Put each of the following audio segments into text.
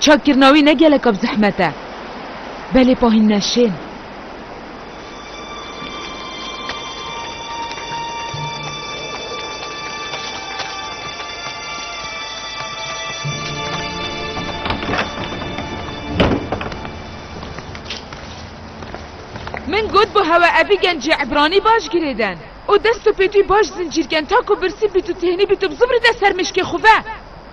Çakkirina wî ne geleka bi zehmet e. Belê pahîn ne şên. Min got bi hewe evî gencê Ebranî baş girêden. O dest û pêtûyî baş zincîrken ta ku birsî bît û têhnî bît û bizûbirîde ser mişkê xwe ve.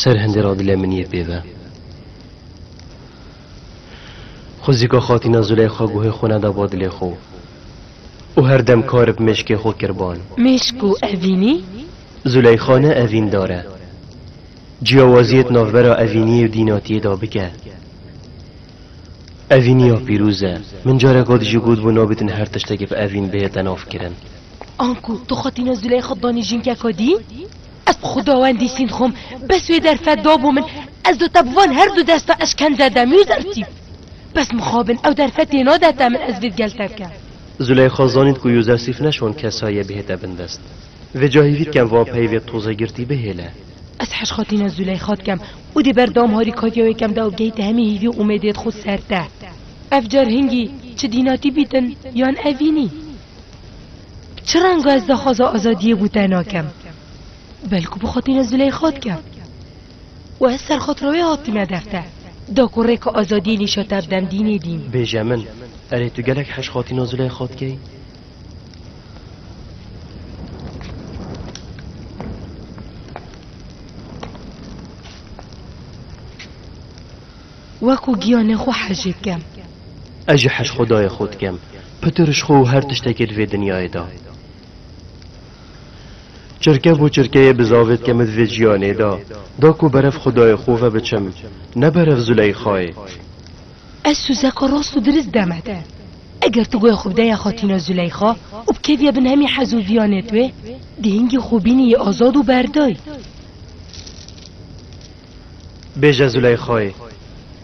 Ser hindê ra dilê min yê pê ve. Xwizika xatîna Zuleyxa guhê xwe neda ba dilê xwe û her dem kar bi mêşkê xwe kir ban. Mêşk û evînî? Zûleyxa ne evîndar e. Ciyawaziyê di navbera evîniyê û dînatiyê de bike. Evîniya pîrûz e. Min careka dijî gotbû nabêtin her tiştekê bi evîn bihête navkirin. Anku tu xwe tîna Züleyxa Danîjînkeka dî? Ez bi xuda wendî sîn dixwim, bes wê derfet dabû min, ez do te bi van her du desta eşkence dem yû zerfî. Bes mixabin ew derfet tê nade te min ez vê gel te bikim. Züleyxa zanîn ku Yûzesîf ne şon kesa ye bihête bin dest. Vê cahî vî dikem van peyvê toze girtî bihêle. Ez hej xwe tîna Züleyxa dikim û dê ber dam harîkatiya wê kem de û bigihîte hemî hîvî û umêdê di xwe ser te. Ev car hingî çi dînatî bîtin yan evînî? Çi renga ez daxwaza azadiyê bû te nakem? Belku bi xwe tîne Zûleyxa dikem. Û ez serxatira wê hatime dev te, da ku rêka azadiyê nîşa te bidem dînê dîn. Bêje min, erê tu gelek heş hatîna Zûleyxa dikey? Wekû giyanê xwe hejê dikem. Ez jî hej xwedayê xwe dikem. Pitir ji xwe û her tiştekê di vê dinyayê de. Çirke bo çirkeyê bi zavê dikeme di vê jiyanê de. Da ku berev xwedayê xwe ve biçim. Ne berev Zûleyxayê. Ez sozeka rast û dirist deme te. Eger tu goya xwe bideya Xatîna Zûleyxa û bikeviya bin hemî hez û viyanê twê, dihingî xwe bîniyî azad û berdayî. Bêje Zûleyxayê,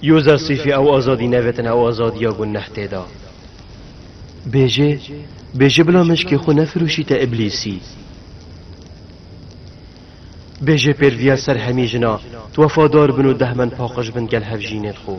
Yoza Sîfî ew azadî nevetin ew azadiya ku neh tê da. Bêje, bêje bila meşkê xwe nefirûşî te îblîsî. Bêje pêrviya ser hemî jina, tu wefadar bin û dehmen paqij bin gel hevjînên xwe.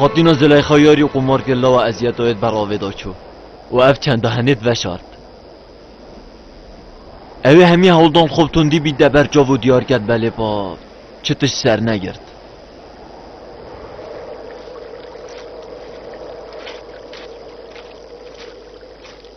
Xatîna Zileyxa yarî qumar kir lawa eziyeta wê ber avê da çû û ev çenda henêt veşart. Ewê hemî hewldan xwe tundî bî de ber çav û diyar ket belê pa çi tişt sernegirt.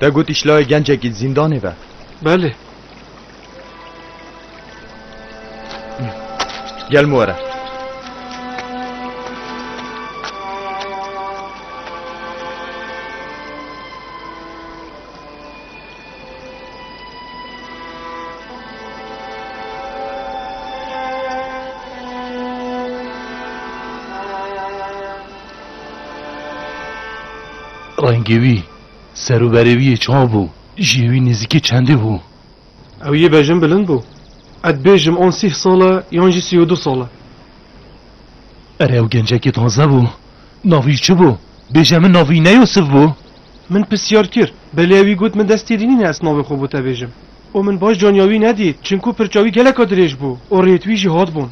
Te got îşlayê gencekî di zîndanê be. Belê. Gel min were. Rengê wî, ser û berê wî yê çav bû, jiyê wî nêzîkî çendî bû. Ew yê bejin bilind bû. Ez dibêjim an sîh sal e yan jî sî û du sal e. Erê ew gencekî taze bû. Nav wî çi bû? Bêje min nav wî ne Yûsif bû? Min pirsiyar kir, belê ew wî got min dest têrî nîne ez navê xwe bo te bêjim. Û min baş caniya wî nedît, çinku pirça wî geleka dirêj bû û rêt wî jî hatbûn.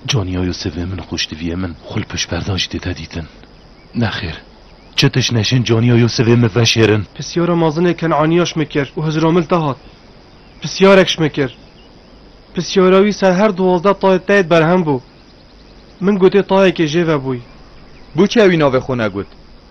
Caniya Yûsivê min xweş diviye min xwe li pişt perdan jî dide dîtin. Nexêr. Çi tişt neşên caniya Yûsivê min veşêrin. Pisyara mazinê Kenaniya şme kir û Hizramil te hat. Pisyarek şme kir. Pisyara wî ser her duwazdeh tayê teyê berhem bû. Min gotê tayekê jê ve bûy. Bû çi ewî navê xwe negot?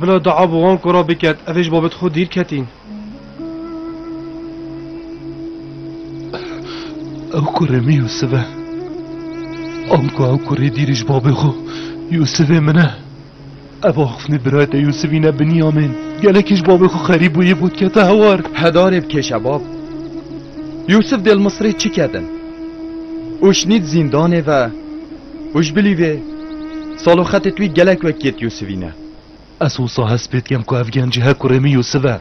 Bila dua bi wan ku ra biket, ev ê ji babet xwe dîr ketîn. Ew kurê min Yûsif e. Anku ew kurê dîrî ji babê xwe Yûsifê min e. Ev axiftinê birayê te Yûsif îne Binyamîn. Gelekî ji babê xwe xerîb bû yê bo dikete hewar. Hedarê bikêşe bab. Yûsif dê li Misirê çi kedin? Û şinît zîndanê ve. Û ji bilî vê sal û xetê twî gelek wekîyet Yûsivî ne. Ez wisa hest pê dikem ku ev genc ji hekurê min Yûsiv e.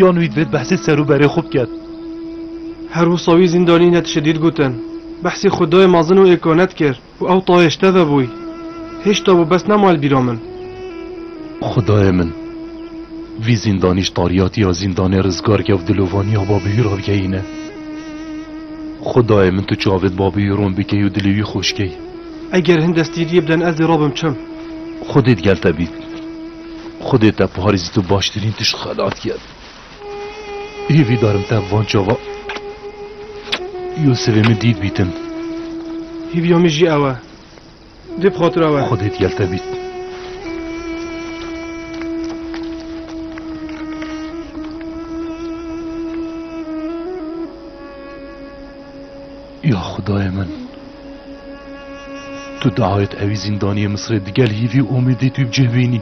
Yan wî divêt behsê ser û berê xwe biket. Her wisa wî zîndanî ne tiştê dît gotin. Behsê xwedayê mezin û êka ne dikir û ew tayê ji te ve bûy. Hêşta bû bes nema li bîra min. Xwedayê min! Vî zîndanî ji tariyatiya zîndanê rizgar kevt dilûvaniya Babihûra bigehîne. Xwedayê min tu çavê babê wî ron bikey û dilê wî xweş key. Eger hin destgîriyê biden ez dê rabim çem. Xwedê digel te bît. Xwedê te parêzî tu baştirîn tişt xelat ket. Hêvî darim te bi van çava Yûsivê min dît bîtin. Hêviya min jî ew e. Dê bi xatira we. Xwedê digel te bît. Ya xudayê min. Tu diawêt ewî zîndaniyê Misirê digel hîvî û umîdî tu bicih bînî.